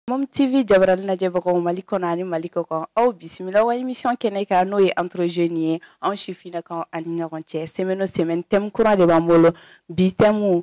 Mom TV jabarali lajɛbagaw mali kɔnɔ ani mali kɔ kan aw bisimila aw ka émission kɛnɛ kan n'o ye entre jeunes ye anw sifinnakaw an ni ɲɔgɔn cɛ semaine o semaine thème kura de b'an bolo bi thème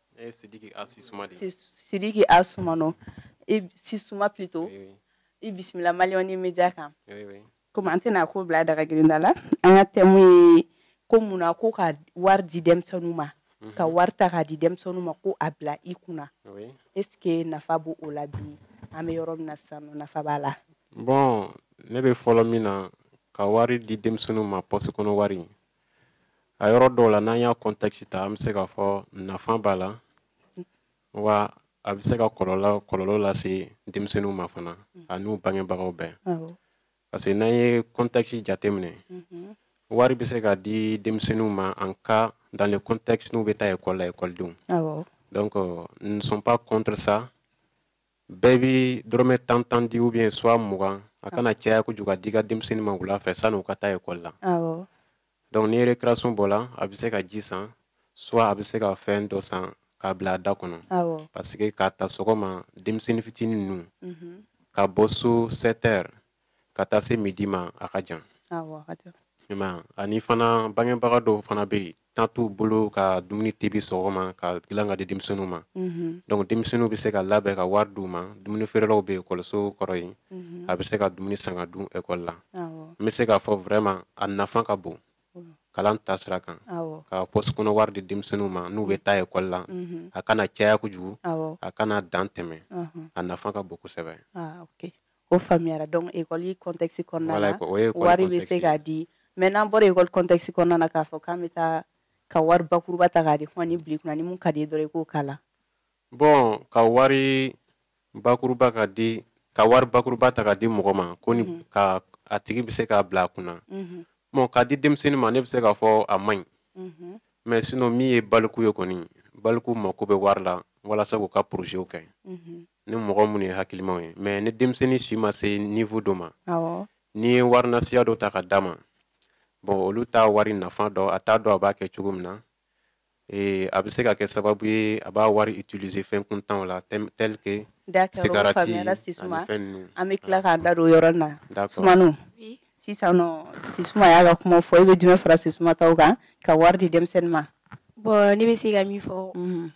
Eh, Sidiki A. Sisuma de. Sidiki A. Suma non. Eh Sisuma plutôt. Oui, oui. I bisimila Mali One Media kan. Oui, oui. Comme an tɛna ko bila daga girin ta la, an ka thème ye ko mun na ko ka wari di denmisɛnninw ma. Mhm. Ka wari ta k'a di denmisɛnninw ma ko a bila i kunna. Oui. Est ce que nafa b'o o la bi? An bɛ yɔrɔ min na sisan nɔ nafa b'a la. Bon, ne bɛ fɔlɔ min na ka wari di denmisɛnninw ma pɔsi kɔnɔ wari. a yɔrɔ dɔw la n'an y'a contexte ta an bɛ se k'a fɔ nafa b'a la wa a bɛ se ka kɔlɔlɔ kɔlɔlɔ lase denmisɛnninw ma fana mhm. a n'u bangebagaw bɛɛ parce que n'an ye contexte jateminɛ mhm. wari bɛ se ka di denmisɛnninw ma en cas dans le contexte n'u bɛ taa école la ekɔlidenw donc nous ne sommes pas contre ça bɛɛ bi dɔrɔmɛ tan tan di ou bien soit mugan a ah. kana caya kojugu k'a d'i ka denmisɛnnin ma wula fɛ san'u ka taa ekɔli la donc ni récréation bɔla a bɛ se ka ji san soit a bɛ se ka fɛn dɔ san k'a bila a da kɔnɔ parce que k'a ta sɔgɔma denmisɛnnin fitinin ninnu mhm. ka bɔ so 7 heures ka taa se midi ma a ka jan ani fana bangebaga dɔw fana bɛ yen temps t'u bolo ka dumuni tebi sɔgɔma ka dilan ka di denmisɛnninw ma mm-hmm. donc denmisɛnninw bɛ se ka labɛn ka wari d'u ma dumuni feerelaw bɛ ekɔliso kɔrɔ yen mm-hmm. a bɛ se ka dumuni san ka dun ekɔli la n bɛ se k'a fɔ vraiment a nafa ka bon kalan ta sira kan ka pɔsi kɔnɔ wari di denmisɛnninw ma n'u bɛ taa ekɔli la a kana caya kojugu a kana dan tɛmɛ a nafa ka bon kosɛbɛ o faamuyara donc école contexte kɔnɔna na wari bɛ se ka di mais n'an bɔra école contexte kɔnɔna na k'a fɔ k'an bɛ taa ka wari bakuruba ta k'a di hɔn nin bil'i kunna ni min ka d'i ye dɔrɔn i k'o k'a la bon ka wari bakuruba ka di ka wari bakuruba ta ka di mɔgɔ ma ko ni mhm. ka a tigi bɛ se k'a bila a kunna mhm. bon ka di denmisɛnnin ma ne bɛ se k'a fɔ a man ɲi mhm. mais sinon min ye baliku ye kɔni baliku mako bɛ wari la walasa k'u ka projet kɛ ni mɔgɔ minnu ye hakilimaw ye mais ni denmisɛnnin si ma se niveau dɔ ma n'i ye wari nasiya dɔ ta k'a d'a ma bon olu t'a wari nafa dɔn a t'a dɔn a b'a kɛ cogo min na ee a bɛ se ka kɛ sababu ye a b'a wari utiliser fɛn kuntanw la tel que sigarati ani fɛn ninnu an bɛ tila k'an da don yɔrɔ na sumano sisan nɔ sisuma y'a ka kuma fɔ i bɛ jumɛn fara sisuma taw kan ka wari di denmisɛnnin ma bon ne bɛ se ka min fɔ mhm.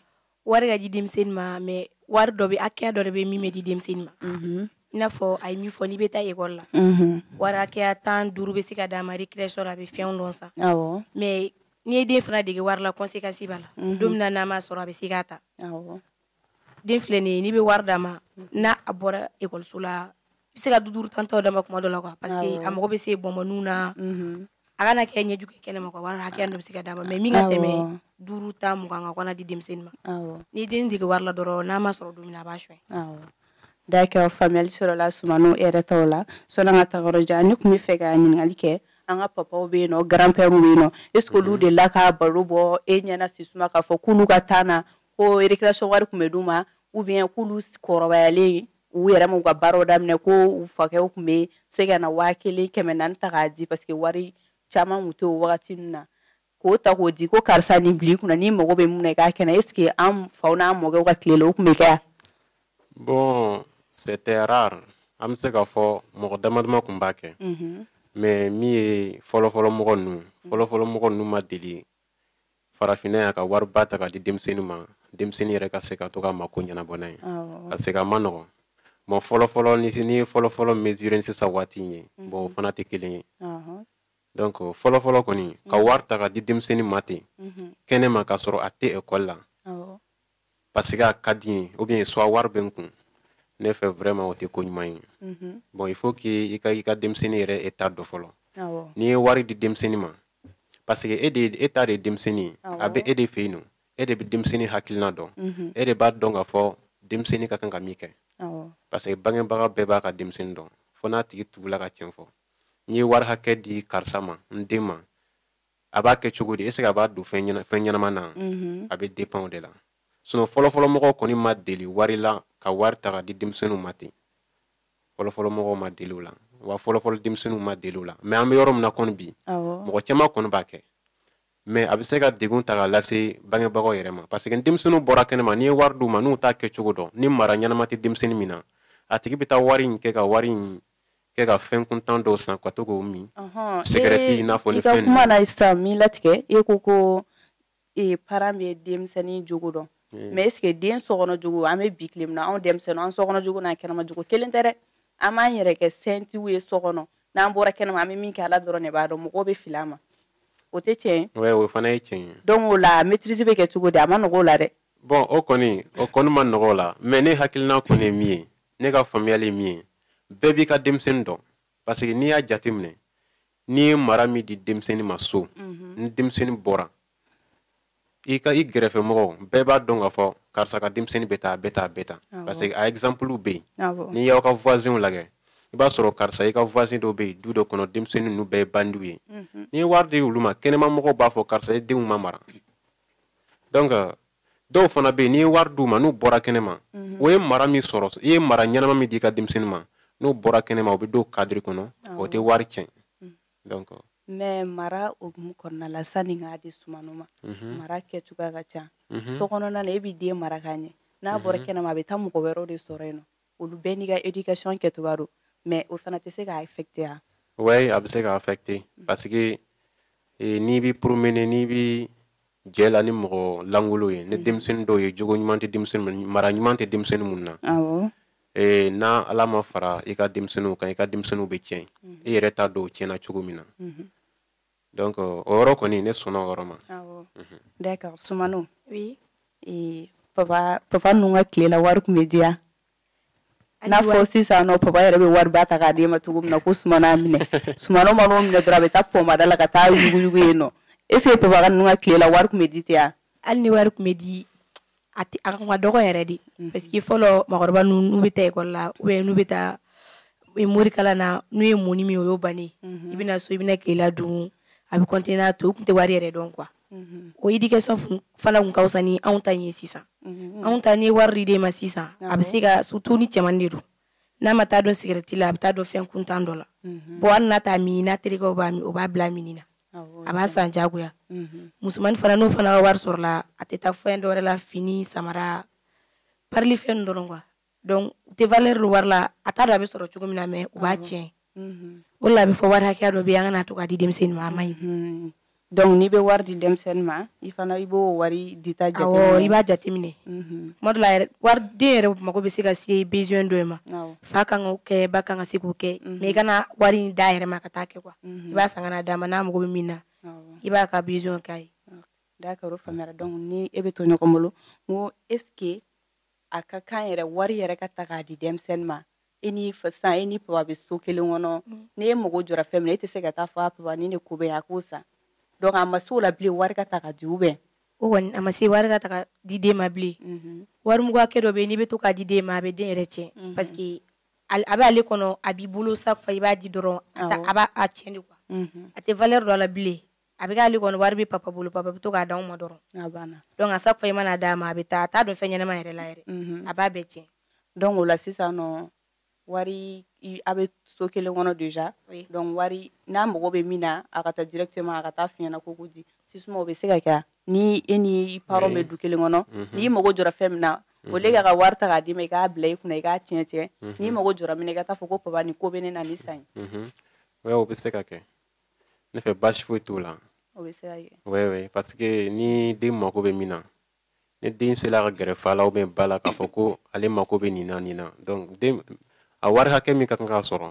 wari ka di denmisɛnnin ma mɛ wari dɔ bɛ hakɛya dɔ de bɛ min bɛ di denmisɛnnin ma mhm. i n'a fɔ a ye min fɔ n'i bɛ taa ekɔli la mhm. wari hakɛya tan duuru bɛ se ka d'a ma récréation la a bɛ fɛn dɔw san mɛ n'i ye den fana dege wari la conséquence b'a la mhm. don min na n'a ma sɔrɔ a bɛ se k'a ta den filɛ nin ye n'i bɛ wari d'a ma n'a a bɔra ekɔliso la bɛ se ka du duuru tan dɔ d'a ma tuma dɔ la quoi parce que a mago bɛ se bɔnbɔninw na mhm. a kana kɛ ɲɛjugu ye kɛnɛma quoi wari hakɛya dɔ bɛ se ka d'a ma mɛ min ka tɛmɛ duuru tan mugan kan kana di denmisɛnnin ma ni den dege wari la dɔrɔn n'a ma sɔrɔ don min na a b'a suɲɛ d'accord faamuyali sɔrɔla sumanɔ yɛrɛ ta la sanni an ka taa yɔrɔ jan ne tun bɛ fɛ ka ɲininkali kɛ an ka papaw bɛ yen nɔ grand-pèrew bɛ yen nɔ est ce que olu mhm. delila ka baro bɔ e ɲɛna sisuma k'a fɔ k'olu ka temps na ko récréation wari tun bɛ d'u ma ou bien k'olu kɔrɔbayalen u yɛrɛ m'u ka baaraw daminɛ ko u fakɛw tun bɛ se ka na waa kelen kɛmɛ naani ta k'a di parce que wari caman tun tɛ o wagati ninnu na k'o ta k'o di ko karisa nin bil'i kun na n'i mago bɛ mun na i k'a kɛnɛ est ce que an faw n'an mɔkɛw ka tile la o tun bɛ kɛ yan. bon c'était rare an bɛ se k'a fɔ mɔgɔ dama dama tun b'a kɛ. mais min ye fɔlɔfɔlɔ mɔgɔ ninnu fɔlɔfɔlɔ mɔgɔ ninnu ma deli farafinna yan ka wariba ta ka di denmisɛnnin ma denmisɛnnin yɛrɛ ka se ka to ka mako ɲɛnabɔ n'a ye ka se ka ma nɔgɔ bon fɔlɔfɔlɔ ni n'i ye fɔlɔfɔlɔ mesure ni sisan waati in ye mhm. bɔn o fana tɛ kelen ye donc fɔlɔfɔlɔ kɔni ka mhm. wari ta ka di denmisɛnnin ma ten mhm. kɛnɛma k'a sɔrɔ a tɛ ekɔli la parce que a ka di i ye ou bien soit wari bɛ n kun ne fɛ vraiment o tɛ ko ɲuman ye bon il faut que i ka i ka denmisɛnnin yɛrɛ état dɔn fɔlɔ n'i ye wari di denmisɛnnin ma parce que e de e ta de ye denmisɛnnin ye a bɛ e de fɛ yen nɔ e de bɛ denmisɛnnin hakilina dɔn mhm. e de b'a dɔn k'a fɔ denmisɛnnin ka kan ka min kɛ parce que bangebaga bɛɛ b'a ka denmisɛnnin dɔn fo n'a tigi tugula ka tiɲɛ fɔ n'i ye wari hakɛ di karisa ma n den ma a b'a kɛ cogo di est ce que a b'a don fɛn ɲɛnama na mhm. a bɛ dépend o de la sinon fɔlɔfɔlɔ mɔgɔw kɔni ma deli wari la ka wari ta ka di denmisɛnninw ma ten fɔlɔfɔlɔ mɔgɔw ma deli o la wa fɔlɔfɔlɔ denmisɛnninw ma deli o la mɛ an bɛ yɔrɔ min na kɔni bi mɔgɔ caman kɔni b'a kɛ mɛ a bɛ se ka degun ta ka lase bangebagaw yɛrɛ ma parce que denmisɛnninw bɔra kɛnɛma n'i ye wari d'u ma n'u t'a kɛcogo dɔn ni mara ɲɛnama tɛ denmisɛnnin min na a tigi bɛ taa wari in kɛ ka wari in kɛ ka fɛn kuntan dɔw san ka to comme sigarɛti i n'a fɔ ni fɛn kuma na sisan min latigɛ e ko ko ee parent bɛ denmisɛnnin jogo dɔn mɛ e den sokɔnɔ cogo an bɛ bi tile na anw denmisɛnnin an sokɔnɔ cogo n'an kɛnɛma cogo kelen tɛ dɛ an b'an yɛrɛ kɛ sentiw ye so kɔnɔ n'an bɔra kɛnɛma an bɛ min kɛ ala dɔrɔn ne b'a dɔn mɔgɔ bɛ fili i ma o tɛ tiɲɛ o fana ye tiɲɛ donc o la maîtrise bɛ kɛ cogo di a ma nɔgɔ la dɛ bɔn o kɔni o kɔni ma nɔgɔ la mɛ ne hakilina kɔni ye min ye ne ka faamuyali min ye bɛɛ b'i ka denmisɛnnin dɔn parce que n'i y'a jate minɛ n'i ye mara min di denmisɛnnin ma so mhm. ni denmisɛnnin bɔra i ka i gɛrɛfɛ mɔgɔw bɛɛ b'a dɔn ka fɔ karisa ka denmisɛnnin bɛ tan a bɛ tan a bɛ tan parce que a exemple bɛ yen n'i y'aw ka voisinw lajɛ i b'a sɔrɔ karisa i ka voisin dɔw bɛ yen du dɔ kɔnɔ denmisɛnnin ninnu bɛɛ ye bandiw ye mhm. n'i ye wari di olu ma kɛnɛma mɔgɔw b'a fɔ karisa i denw ma mara donc dɔw fana bɛ yen n'i ye wari d'u ma n'u bɔra kɛnɛ ma mhm. o ye mara min sɔrɔ i ye mara ɲɛnama min di i ka denmisɛnnin ma n'u bɔra kɛnɛ ma o bɛ don kadiri kɔnɔ o tɛ wari tiɲɛ mhm. donc mɛ mara hukumu kɔnɔna la sanni k'a di sumano ma mhm. mara kɛcogoya ka ca so kɔnɔna na e b'i den mara ka ɲɛ n'a bɔra kɛnɛma a bɛ taa mɔgɔ wɛrɛw de sɔrɔ yen nɔ olu bɛɛ n'i ka éducation kɛcogoya don mɛ o fana tɛ se k'a affecté wa oui a bɛ se k'a affecté parce que eh, n'i b'i promener n'i b'i jɛ la ni mɔgɔ lankolon ye ni denmisɛnnin dɔw ye jogo ɲuman tɛ denmisɛnnin mara ɲuman tɛ denmisɛnnin min na ee ni ala ma fara i ka denmisɛnninw kan i ka denmisɛnninw bɛ tiɲɛ i yɛrɛ t'a dɔn o tiɲɛna cogo min na donc o yɔrɔ kɔni ne sɔnna o yɔrɔ ma d'accord sumano oui papa papa ninnu ka tile la wari tun bɛ di wa n'a fɔ sisan nɔ papa yɛrɛ bɛ wari ba ta k'a d'e ma cogo min na ko sumano minɛ sumano mana o minɛ dɔrɔn a bɛ taa pɔmada la ka taa yuguyugu yen nɔ est ce que papa ka ninnu ka tile la wari tun bɛ di ten wa hali ni wari tun bɛ di a tɛ a tun ka dɔgɔ yɛrɛ de mhm. parce que fɔlɔ mɔgɔkɔrɔba ninnu n'u bɛ taa ekɔli la ou bien n'u bɛ taa e, morikala na n'u ye mɔni min o y'o bannen mhm. i bɛ na so i bɛna tilela dun a bɛ kɔntiniye n'a to u tun tɛ wari yɛrɛ dɔn quoi Mhm. o éducation fana tun ka fisa ni anw ta in ye sisan mhm. anw ta n'i ye wari di den ma sisan a bɛ se ka surtout ni cɛman de don n'a ma taa don sigarɛti la a bɛ taa don fɛn kuntan dɔ la mhm. bɔn hali n'a t'a min n'a terikɛw b'a min u b'a bila minni na a b'a san jagoya musomani fana n'o fana ka wari sɔrɔla a tɛ taa fɛn dɔ wɛrɛ la fini samara parilifɛn ninnu dɔrɔn quoi donc u tɛ valeur don wari la a t'a dɔn a bɛ sɔrɔ cogo min na mais u b'a ah tiɲɛ mhm. o la a bɛ fɔ wari hakɛya dɔ bɛ yen an kana to k'a di denmisɛnnin ma a man ɲi mhm. donc n'i bɛ wari di denmisɛnnin ma i fana i b'o wari dita jateminɛ awɔ i b'a jateminɛ mhm. tuma dɔ la yɛrɛ wari den yɛrɛ mago bɛ se ka se besoin dɔ ma fa kan k'o kɛ ba kan ka se k'o kɛ mais i kana wari in d'a yɛrɛ ma ka taa kɛ quoi i b'a san ka na d'a ma n'a mago bɛ min na i b'a ka besoin k'a ye d'accord o faamuyara donc ni e bɛ to ɲɔgɔn bolo n ko est ce que a ka kan yɛrɛ wari yɛrɛ ka ta k'a di denmisɛnnin ma i e ni sisan e ni papa bɛ so kelen kɔnɔ mm. n'e mago jɔra fɛn min e tɛ se ka taa fɔ a papa ni ne ko bɛ a k'o san donc a ma se o la bilen wari ka ta ka di ou bien o kɔni a ma se wari ka ta ka di den ma bilen mm-hmm. wari mugu hakɛ dɔ bɛ yen n'i bɛ to k'a di den ma a bɛ den yɛrɛ tiɲɛ mm-hmm. parce que a bɛ ale kɔnɔ a b'i bolo sa fa i b'a di dɔrɔn a b'a a tiɲɛ de quoi mm-hmm. a tɛ valeur don a la bilen a bɛ k'ale kɔnɔ wari bɛ papa bolo papa bɛ to k'a d'anw ma dɔrɔn a banna donc à chaque fois i man'a d'a ma a bɛ taa a t'a don fɛn ɲɛnama yɛrɛ la yɛrɛ a b'a bɛɛ tiɲɛ donc o la sisan nɔ wari a bɛ so kelen kɔnɔ déjà donc wari n'a mago bɛ min na a ka taa directement a ka taa f'i ɲɛna ko ko di sisuma o bɛ se ka kɛ ni e ni i parents bɛ du kelen kɔnɔ mhm. n'i mago jɔra fɛn min na mhm. au lieu k'u ka wari ta k'a d'i ma i k'a bila i kunna i k'a tiɲɛ tiɲɛ mhm. n'i mago jɔra min na i ka taa fɔ ko papa nin ko bɛ ne na nin san n ye o bɛ se ka kɛ ne fɛ baasi foyi t'o la o bɛ se ka kɛ oui oui parce que ni den mako bɛ min na ni den sela ka gɛrɛ fa la ou bien ba la k'a fɔ ko ale mako bɛ nin na nin na donc den a wari hakɛ min ka kan k'a sɔrɔ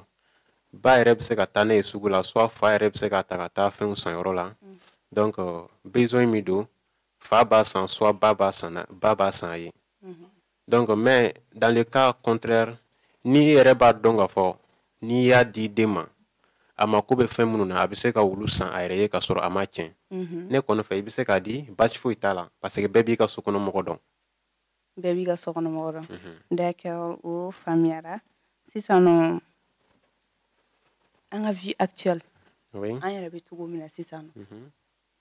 ba yɛrɛ bɛ se ka taa n'a ye sugu la soit fa yɛrɛ bɛ se ka ta ka taa fɛnw san yɔrɔ la mm. donc euh, besoin min don fa b'a san soit ba b'a san ba b'a san a ye donc mais dans le cas contraire ni e yɛrɛ b'a dɔn k'a fɔ n'i y'a di den ma a mako bɛ fɛn minnu na a bɛ se ka olu san a yɛrɛ ye ka sɔrɔ a m'a tiɲɛ mhm. ne kɔni fɛ i bɛ se k'a di baasi foyi t'a la parce que bɛɛ b'i ka so kɔnɔ mɔgɔ dɔn bɛɛ b'i ka so kɔnɔ mɔgɔ dɔn mhm. d'accord o faamuyara sisan nɔ an ka vie actuelle an yɛrɛ bɛ cogo min na sisan nɔ mhm.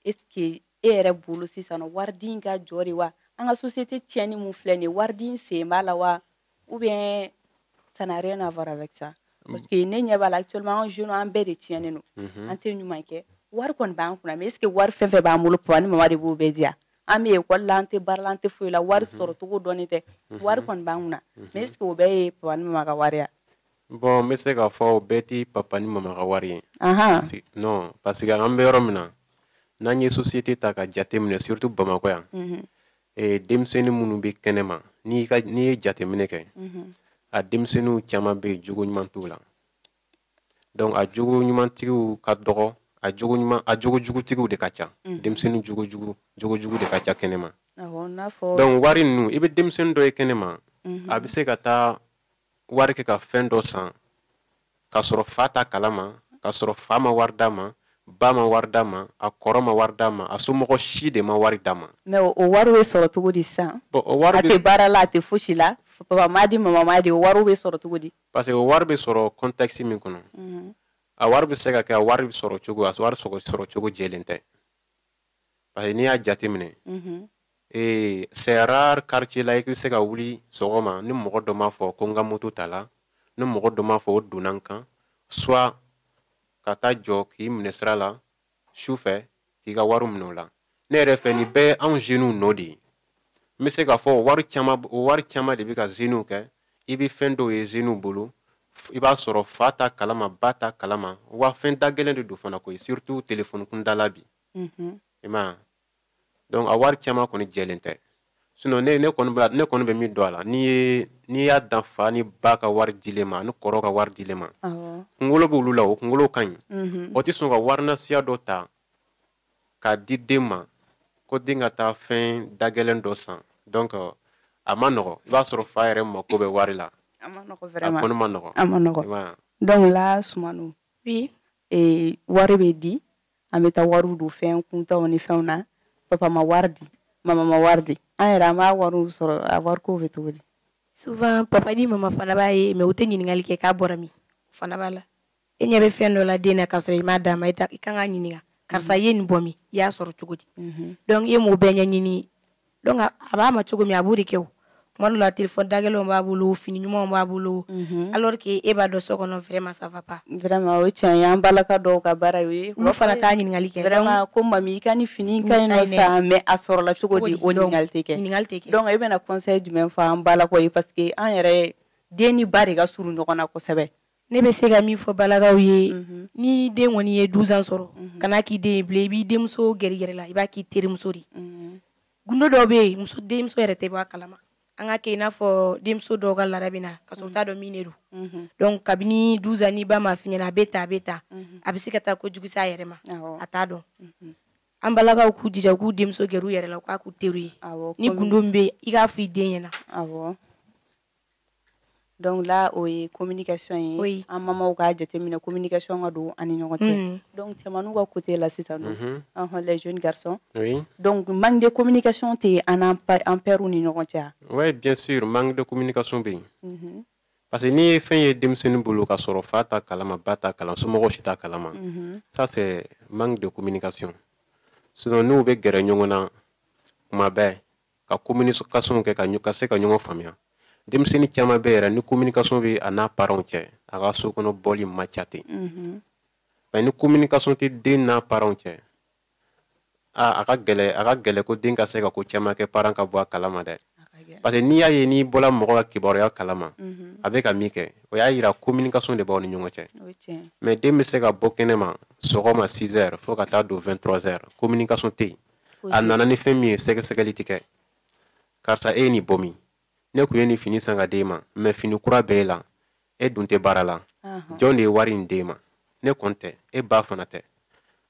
est-ce que e yɛrɛ bolo sisan waridi in ka jɔ de wa an ka société tiɲɛni min filɛ nin waridi in sen b'a la wa ou bien ça n'a rien à voir avec ça mm. parce que ne ɲɛ b'a la actuellement an jeunes an bɛɛ de tiɲɛnen don mm-hmm. an tɛ ɲuman kɛ wari kɔni b'an kunna mais est-ce que wari fɛn fɛn b'an bolo pa ni mama de b'o bɛɛ di wa an bɛ ekɔli la an tɛ baara la an tɛ foyi la wari mm-hmm. sɔrɔ cogo dɔnnen tɛ mm-hmm. wari kɔni b'an kunna mais est-ce que o bɛɛ ye pa ni mama ka wari bon n bɛ se k'a fɔ o bɛɛ tɛ papa ni mama ka wari ye non parce que an bɛ yɔrɔ min na n'an ye société ta ka jate minɛ surtout bamakɔ yan mhm. eh, denmisɛnnin minnu bɛ kɛnɛ ma n'i ye jateminɛ kɛ mhm. a denmisɛnninw caman bɛ yen jogo ɲuman t'u la donc a jogo ɲumantigiw ka dɔgɔ a jogo ɲuman a jogo jugutigiw de ka ca mhm. denmisɛnnin jogo jugu jogo jugu de ka ca kɛnɛ ma donc wari ninnu i bɛ denmisɛnnin dɔ ye kɛnɛ ma a bɛ se ka taa wari kɛ ka fɛn dɔ san k'a sɔrɔ fa t'a kalama k'a sɔrɔ fa ma wari d'a ma ba ma wari d'a ma a kɔrɔ ma wari d'a ma a somɔgɔ si de ma wari d'a ma mais o wari bɛ sɔrɔ cogo di sisan a tɛ baara la a tɛ fosi la papa m'a di mama m'a di o wariw bɛ sɔrɔ cogo di parce que o wari bɛ sɔrɔ contexte min kɔnɔ mhm. a wari bɛ se ka kɛ a wari bɛ sɔrɔ cogo a wari sɔrɔ cogo jɛlen tɛ parce que n'i y'a jateminɛ ee c'est rare quartier la i bɛ se ka wuli sɔgɔma ni mɔgɔ dɔ m'a fɔ ko n ka moto tala ni mɔgɔ dɔ m'a fɔ u donna n kan soit ka taa jɔ k'i minɛ sira la su fɛ k'i ka wari minɛ o la ne yɛrɛ fɛ nin bɛɛ ye anw jeunes nɔ de ye n bɛ se k'a fɔ o wari caman o wari caman de bɛ ka zeniw kɛ i bɛ fɛn dɔw ye zeniw bolo i b'a sɔrɔ fa t'a kalama ba t'a kalama wa fɛn dagɛlɛn de don fana koyi surtout telefɔni kunda la bi mhm. i ma donc a wari caman kɔni jɛlen tɛ sinon ne ne kɔni bɛ ne kɔni bɛ min dɔn a la n'i ye n'i y'a dan fa ni ba ka wari dilen ma ani kɔrɔ ka wari dilen ma kunkolo b'olu la o kunkolo ka ɲi mhm. o tɛ sɔn ka wari nasiya dɔ ta k'a di den ma ko den ka taa fɛn dagɛlɛn dɔ san donc a ma nɔgɔ i b'a sɔrɔ fa yɛrɛ mako bɛ wari la a ma nɔgɔ vraiment a kɔni ma nɔgɔ a ma nɔgɔ donc là musomanw bi e, wari bɛ di an bɛ taa wariw don fɛn kuntanw ni fɛnw na papa ma wari di mama ma wari di an yɛrɛ an b'a wariw sɔrɔ a wariko bɛ cogo di souvent papa ni mama fana b'a ye mais u tɛ ɲininkali kɛ k'a bɔra min fana b'a la e ɲɛ bɛ fɛn dɔ la den na k'a sɔrɔ i m'a d'a ma i kan k'a ɲininka karisa i ye nin bɔ min i y'a sɔrɔ cogo di mhm. donc ni e m'o bɛɛ ɲɛɲini donc a b'a ma cogo min a b'o de kɛ o tuma dɔ la telefɔni dagɛlɛnw b'a bolo fini ɲumanw b'a bolo mhm. alors que e b'a dɔn so kɔnɔ vraiment ça va pas vraiment o ye tiɲɛ ye an balaka dɔw ka baara ye o ye olu fana t'a ɲininkali kɛ vraiment ko mami i ka nin fini ka ɲi nɔ sa mais a sɔrɔla cogo di o ɲininkali tɛ kɛ ɲininkali tɛ kɛ donc e bɛna conseil jumɛn fɔ an balakaw ye parce que an yɛrɛ den ni ba de ka surun ɲɔgɔn na kosɛbɛ ne bɛ se ka min fɔ balakaw ye mhm. ni den kɔni ye duzan sɔrɔ mhm. kan'a k'i den ye bilen i b'i denmuso gɛrɛ i yɛrɛ la i b'a k'i terimuso de mhm. gundo dɔ bɛ yen muso denmuso yɛrɛ tɛ bɔ a kalama an k'a kɛ i n'a fɔ denmuso dɔw ka laada bɛ na k'a sɔrɔ u t'a dɔn min de don donc kabini duzan ni ba m'a f'i ɲɛna a bɛ taa a bɛ taa a bɛ se ka taa ko jugu se a yɛrɛ ma a t'a dɔn an balakaw k'u jija k'u denmuso gɛrɛ u yɛrɛ la u k'a k'u teri ye ni gundo min bɛ yen i k'a fɔ i den ɲɛna donc là o ye communication ye oui. an mamaw k'a jateminɛ communication ka don an ni ɲɔgɔn cɛ mm. donc cɛmanw ka côté la sisan dun mm -hmm. les jeunes garçons oui. donc manque de communication tɛ an n'an pɛrɛw ni ɲɔgɔn cɛ oui bien sûr manque de communication bɛ yen mm -hmm. parce que n'i ye fɛn ye denmisɛnnin bolo k'a sɔrɔ fa t'a kalama ba t'a kalama somɔgɔ si t'a kalama mm -hmm. ça c'est manque de communication sinon n'u bɛ gɛrɛ ɲɔgɔn na kuma bɛɛ ka kominikasɔnw kɛ ka se ka ɲɔgɔn faamuya denmisɛnnin caman bɛɛ yɛrɛ ni kominikasɔn bɛ a n'a paranw cɛ a ka so kɔnɔ bɔli man ca ten mhm. mɛ ni kominikasɔn tɛ den n'a paranw cɛ a ka gɛlɛn a ka gɛlɛn ko den ka se ka ko caman kɛ paran ka bɔ a kalama dɛ parce que n'i y'a ye n'i bɔra mɔgɔ ka kibaruya kalama mhm. a bɛ ka min kɛ o y'a yira kominikasɔn de b'aw ni ɲɔgɔn cɛ mɛ den bɛ se ka bɔ kɛnɛ ma sɔgɔma 6 heures fo ka taa don 23 heures kominikasɔn tɛ yen a nana ni fɛn min ye sɛgɛsɛgɛli ti kɛ karisa e ye nin bɔ min ne kun ye nin fini san ka d'e ma mais fini kura bɛ e la e dun tɛ baara la jɔn de ye wari in d'e ma ne kɔni tɛ e ba fana tɛ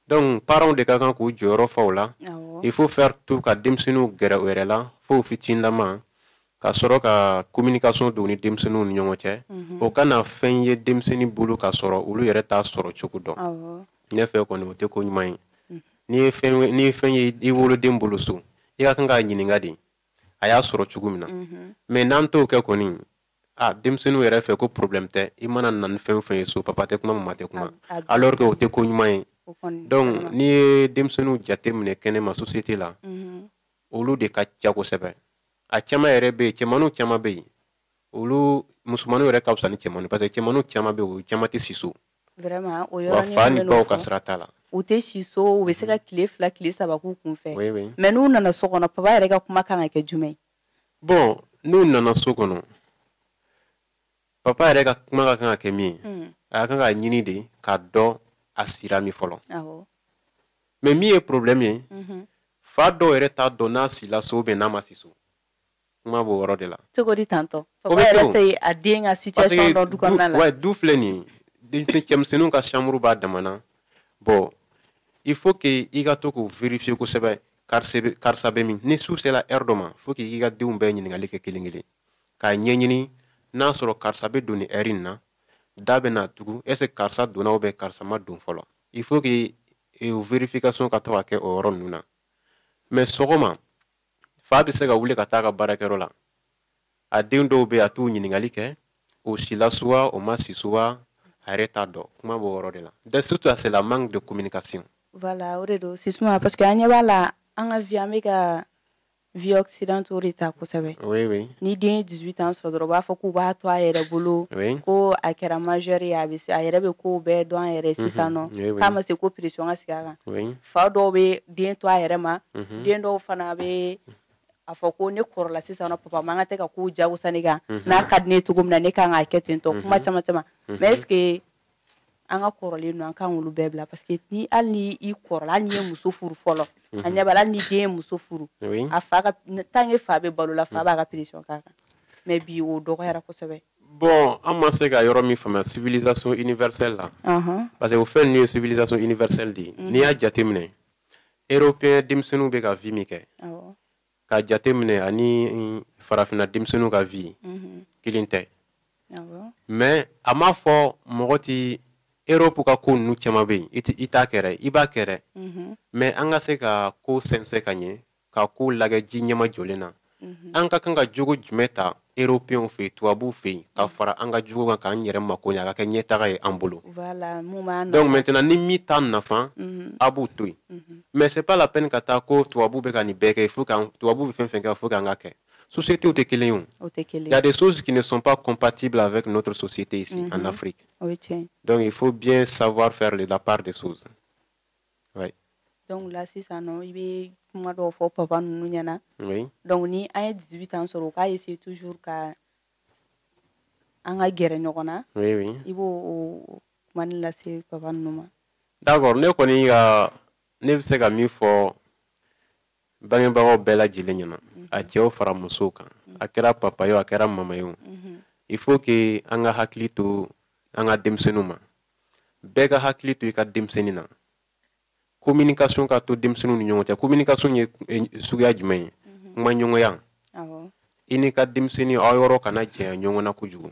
donc paranw de ka kan k'u jɔyɔrɔ fa o la il faut faire tout ka denmisɛnninw gɛrɛ u yɛrɛ la fo u fitinlama ka sɔrɔ ka communication don ni denmisɛnninw ni ɲɔgɔn cɛ mhm. o kana fɛn ye denmisɛnnin bolo ka sɔrɔ olu yɛrɛ t'a sɔrɔ cogo dɔn ne fɛ kɔni o tɛ ko ɲuman ye mhm. n'i ye fɛn n'i ye fɛn ye i woloden bolo so i ka kan k'a ɲininka de a y'a sɔrɔ cogo min na mhm. mais n'an t'o kɛ kɔni a denmisɛnninw yɛrɛ fɛ ko problème tɛ i mana na ni fɛn o fɛn ye so papa tɛ kuma mama tɛ kuma alors que o tɛ ko ɲuman ye donc n'i ye denmisɛnninw jateminɛ kɛnɛma société la olu de ka ca kosɛbɛ a caman yɛrɛ bɛ yen cɛmanninw caman bɛ yen olu musomanninw yɛrɛ ka fisa ni cɛmanninw parce que cɛmanninw caman bɛ yen olu caman tɛ si so vraiment o yɔrɔ fa ni baw ka sira t'a la u tɛ si so u bɛ se ka tile fila tile saba k'u kun fɛ mais n'u nana so kɔnɔ papa yɛrɛ ka kuma ka kan ka kɛ jumɛn ye bon n'u nana so kɔnɔ papa yɛrɛ ka kuma ka kan ka kɛ min ye hmm. a ka kan k'a ɲini de k'a dɔn a sira min fɔlɔ mais min ye problème ye mhm. fa dɔw yɛrɛ t'a dɔn n'a sila so ou bien n'a ma si so kuma b'o yɔrɔ de la cogo di tantôt papa yɛrɛ tɛ a den ka situation dɔn du kɔnɔna la du filɛ nin ye cɛmisɛnninw ka chambre b'a damana bon il faut que i ka to k'u vérifier kosɛbɛ karisa bɛ min ni su sera heure dɔ ma faut que i ka denw bɛɛ ɲininkali kɛ kelen kelen k'a ɲɛɲini n'a sɔrɔ karisa bɛ don nin heure in na da bɛna tugu est ce que karisa donna ou bien karisa ma don fɔlɔ il faut que e o vérification ka to ka kɛ o yɔrɔ ninnu na mais sɔgɔma fa bɛ se ka wuli ka taa a ka baarakɛyɔrɔ la a den dɔw bɛ a t'u ɲininkali kɛ o sila so wa o ma si so wa a yɛrɛ t'a dɔn kuma b'o yɔrɔ de la dɛ surtout à c'est la manque de communication voilà o de don justement parce que an ɲɛ b'a la an ka vie an bɛ ka vie occidentale de ta kosɛbɛ ni den ye dix-huit ans sɔrɔ dɔrɔn u b'a fɔ k'u b'a to a yɛrɛ bolo ko a kɛra majeur ye a bɛ se a yɛrɛ bɛ ko bɛɛ dɔn an yɛrɛ sisan nɔ k'a ma se ko pression ka sigi a kan fa dɔw bɛ den to a yɛrɛ ma den dɔw fana bɛ a fɔ ko ne kɔrɔla sisan papa an ka tɛ ka ko jagoya ne kan n'a ka di ne cogo min na ne ka kan ka kɛ ten tɔ kuma caman caman mais an ka kɔrɔlenw an kana olu bɛɛ bila parce que ni hali ni i kɔrɔla hali n'i ye muso furu fɔlɔ mhm. an ɲɛ b'a la hali ni den ye muso furu a fa ka tant que fa bɛ balo la fa mhm. b'a ka pression k'a kan mais bi o dɔgɔyara kosɛbɛ bon an ma se ka yɔrɔ min faamuya civilisation universelle la parce que o fɛn ninnu ye civilisation universelle de ye mhm. n'i y'a jateminɛ européen denmisɛnninw bɛ ka vie min kɛ ka jateminɛ ani farafina denmisɛnninw ka vi mhm. kelen tɛ mɛ a m'a fɔ mɔgɔ tɛ eropu ka ko ninnu caman bɛ yen i t'a kɛ dɛ i b'a kɛ dɛ mhm. mɛ an ka se ka ko sɛnsɛn ka ɲɛ ka kow lagɛ ji ɲɛmajɔlen na mhm. an ka kan ka jogo jumɛn ta eropew fɛ yen tubabuw fɛ yen ka fara an ka jogo kan k'an yɛrɛ mako ɲɛ a ka kɛ ɲɛtaga ye an bolo donc maintenant ni min t'an nafa mhm. an b'o to yen mhm. mais c'est pas la peine ka taa ko tubabu bɛ ka nin bɛɛ kɛ fo k'an tubabu bɛ fɛn o fɛn kɛ fo k'an k'a kɛ sociétés tɛ kelen ye o il y a des choses qui ne sont pas compatibles avec notre société ici en mhm. Afrique donc il faut bien savoir faire la part des choses oui donc là sisan nɔ i bɛ kuma dɔw fɔ papa ninnu ɲɛna oui donc ni an ye 18 ans sɔrɔ u k'a essayer toujours ka an ka gɛrɛ ɲɔgɔn na oui oui i b'o o kuma nin lase papa ninnu ma d'accord ne kɔni ka ne bɛ se ka min fɔ bangebagaw bɛɛ lajɛlen ɲɛna mhm. a cɛw fara musow kan mhm. a kɛra papa ye a kɛra mama ye mhm. il faut que an ka hakili to an ka denmisɛnninw ma bɛɛ ka hakili to i ka denmisɛnnin na communication ka to denmisɛnninw ni ɲɔgɔn cɛ communication ye eh, suguya jumɛn ye mhm. kumaɲɔgɔnya i n'i ka denmisɛnnin aw yɔrɔ kana janya ɲɔgɔn na kojugu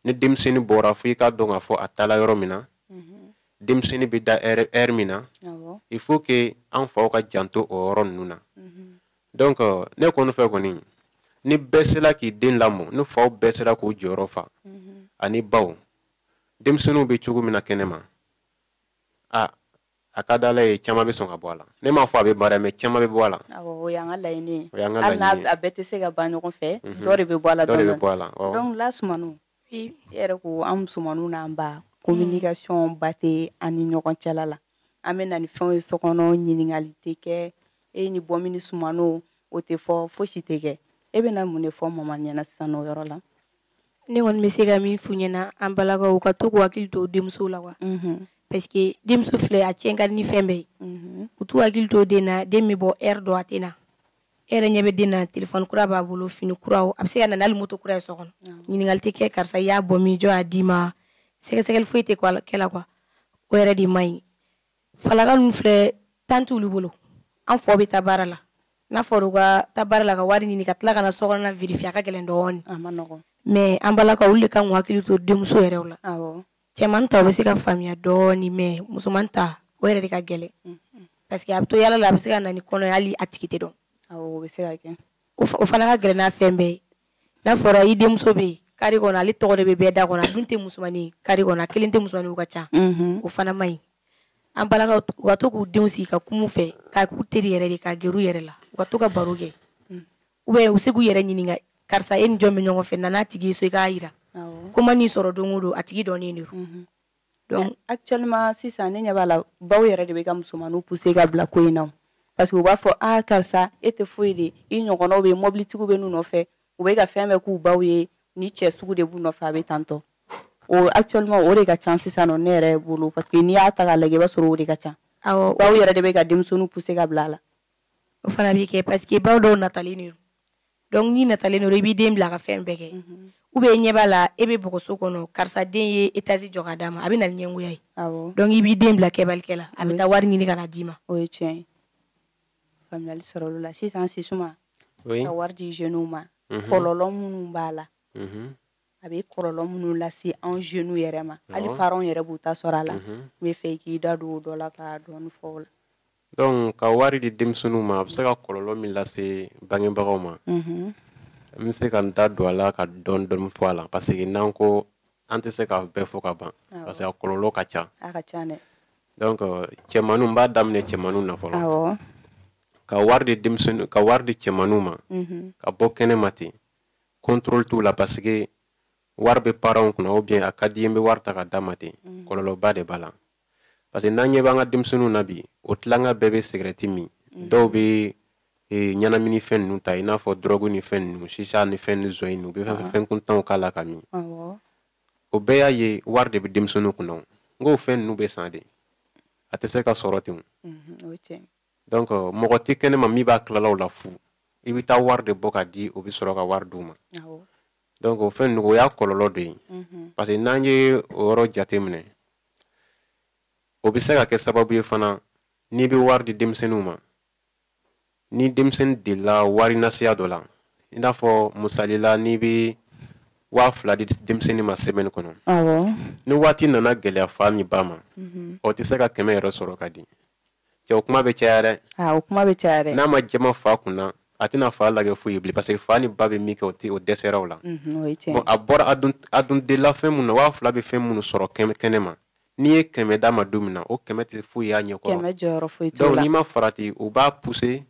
ni denmisɛnnin bɔra fo i k'a dɔn k'a fɔ a taala yɔrɔ min na mhm. denmisɛnnin bɛ da ɛri min na il faut que an faw ka janto o yɔrɔ ninnu na mhm. donc euh, ne kɔni fɛ kɔni ni bɛɛ sera k'i den lamɔ ni faw bɛɛ sera k'u jɔyɔrɔ fa ani baw denmisɛnninw bɛ cogo min na kɛnɛ ma a a ka di ala ye caman bɛ sɔn ka bɔ a la ne m'a fɔ a bɛ bɔ a la mɛ caman bɛ bɔ a la o y'an ka laɲini a bɛɛ tɛ se ka ban ɲɔgɔn fɛ mhm. dɔ de bɛ bɔ a la dɔ de bɛ bɔ a la dɔnku la musomanninw e yɛrɛ ko an musomanninw n'an ba communication ba tɛ an ni ɲɔgɔn cɛla la an bɛ na ni fɛnw ye so kɔnɔ ɲininkali tɛ kɛ e ye nin bɔ min ni sumano o tɛ fɔ fosi tɛ kɛ e bɛna mun de fɔ mama ɲɛna sisan o yɔrɔ la ne kɔni bɛ se ka min f'u ɲɛna an balakaw u ka to k'u hakili to denmuso la kuwa mhm. parce que denmuso filɛ a tiɲɛ ka di ni fɛn bɛɛ ye mhm. u t'u hakili to den na den bɛ bɔ ɛri dɔ a tɛ na e yɛrɛ ɲɛ bɛ den na telefɔni kura b'a bolo fini kuraw a bɛ se ka na n'ale moto kura ye so kɔnɔ ɲininkali tɛ kɛ karisa i y'a bɔ min jɔn y'a d'i ma sɛgɛsɛgɛli foyi tɛ kɛ a la kuwa o yɛrɛ de man ɲi falaka ninnu filɛ tan t'olu bolo an faw bɛ taa baara la n'a fɔra u ka taa baara la ka wari ɲini ka tila ka na so kɔnɔna virifiya ka gɛlɛn dɔɔni mɛ an balakaw olu de ka kan k'u hakili to denmuso yɛrɛw la cɛman ta u bɛ se ka faamuya dɔɔni mɛ musoman ta o yɛrɛ de ka gɛlɛn parce que a bɛ to yala la a bɛ se ka na ni kɔnɔ hali a tigi tɛ dɔn o fana ka gɛlɛn ni fɛn bɛɛ ye n'a fɔra i denmuso bɛ yen carré kɔnɔ ale tɔgɔ de bɛ bɛɛ da kɔnɔ a dun tɛ musomanin carré kɔnɔ a kelen tɛ musomaninw ka ca mhm. o fana man ɲi an balakaw u ka to k'u denw sigi ka kum'u fɛ ka k'u teri yɛrɛ de ka gɛr'u yɛrɛ la u ka to ka baro kɛ mm. u bɛ u se k'u yɛrɛ ɲininka karisa e ni jɔn bɛ ɲɔgɔn fɛ na n'a tigi so i k'a yira ko man'i sɔrɔ don o don a tigi dɔnnen de don mhm. donc actuellement sisan ne ɲɛ b'a la baw yɛrɛ de bɛ ka musomaninw pousser ka bila ko in na parce que u b'a fɔ ah karisa e tɛ foyi de i ɲɔgɔnnaw bɛ mobilitigiw bɛ n'u nɔfɛ u bɛ ka fɛn bɛɛ k'u baw ye nin cɛ sugu de b'u nɔfɛ a bɛ tantɔ o actuellement o de ka ca sisan nɔ ne yɛrɛ bolo parce que n'i y'a ta k'a lajɛ i b'a sɔrɔ o de ka ca awɔ baw yɛrɛ de bɛ ka denmisɛnninw pousser ka bila a la o fana bɛ kɛ parce que baw dɔw natalen de don dɔnku n'i natalen don i b'i den bila ka fɛn bɛɛ kɛ mhm. u bɛ ɲɛ b'a la e bɛ bɔgɔso kɔnɔ karisa den ye etazi jɔ ka d'a ma a bɛ na ni ɲɛngoya ye dɔnku i b'i den bila kɛbalikɛ la a bɛ taa wari ɲini ka na d'i ma o ye tiɲɛ ye faamuyali sɔrɔl'o la sisan sisuma ka wari di jeunes ma mhm. kɔlɔlɔ minnu b'a la mhm. a bɛ kɔlɔlɔ minnu lase anw jeunes yɛrɛ ma hali parents yɛrɛ b'u ta sɔrɔ a la n bɛ fɛ i k'i da don o dɔ la ka dɔɔni fɔ o la donc ka wari di denmisɛnninw ma a bɛ se ka kɔlɔlɔ min lase bangebagaw ma n bɛ se ka n da don a la ka dɔɔni dɔɔni fɔ a la parce que n'an ko an tɛ se k'a bɛɛ fɔ ka ban parce que a kɔlɔlɔ ka ca donc cɛmanninw n b'a daminɛ cɛmanninw na fɔlɔ ka wari di denmisɛnninw ka wari di cɛmanninw ma ka bɔ kɛnɛ ma ten contrôle t'u la parce que wari bɛ parents kunna ou bien a ka di n bɛ wari ta ka d'a ma ten kɔlɔlɔba de b'a la parce que n'an ɲɛ b'an ka denmisɛnninw na bi o tilanga bɛɛ bɛ sigɛrɛti min mhm. dɔw bɛ e, ɲɛnamini fɛn ninnu ta i n'a fɔ dɔrɔgu ni fɛn ninnu sisa ni fɛn ni zɔn ninnu u bɛ fɛn fɛn kuntanw k'a la ka min o bɛɛ y'a ye wari de bɛ denmisɛnninw kunna nk'o fɛn ninnu bɛ san de a tɛ se ka sɔrɔ ten mhm, donc mɔgɔ tɛ kɛnɛ ma min b'a tila aw la fu i bɛ taa wari de bɔ ka di o bɛ sɔrɔ ka wari d'u ma donc o fɛn ninnu o y'a kɔlɔlɔ dɔ ye mhm. parce que n'an ye o yɔrɔ jateminɛ o bɛ se ka kɛ sababu ye fana n'i bɛ wari di denmisɛnninw ma ni denmisɛnnin delila wari nasiya dɔ la i n'a fɔ misali la n'i bɛ waa fila di denmisɛnnin ma semaine kɔnɔ ni waati nana gɛlɛya fa ni ba ma mhm. o tɛ se ka kɛmɛ yɛrɛ sɔrɔ ka di cɛ o kuma bɛ caya dɛ ah, o kuma bɛ caya dɛ n'a ma jaman fa kunna a tɛna fa lagɛ foyi ye bilen parce que fa ni ba bɛ min kɛ o tɛ o dɛsɛra o la bon a bɔra a dun a dun delila fɛn minnu na waa fila bɛ fɛn minnu sɔrɔ kɛnɛ kɛnɛ ma n'i ye kɛmɛ d'a ma don min na o kɛmɛ tɛ foyi y'a ɲɛkɔrɔ kɛmɛ jɔyɔrɔ foyi t'o la donc n'i ma farati u b'a pousser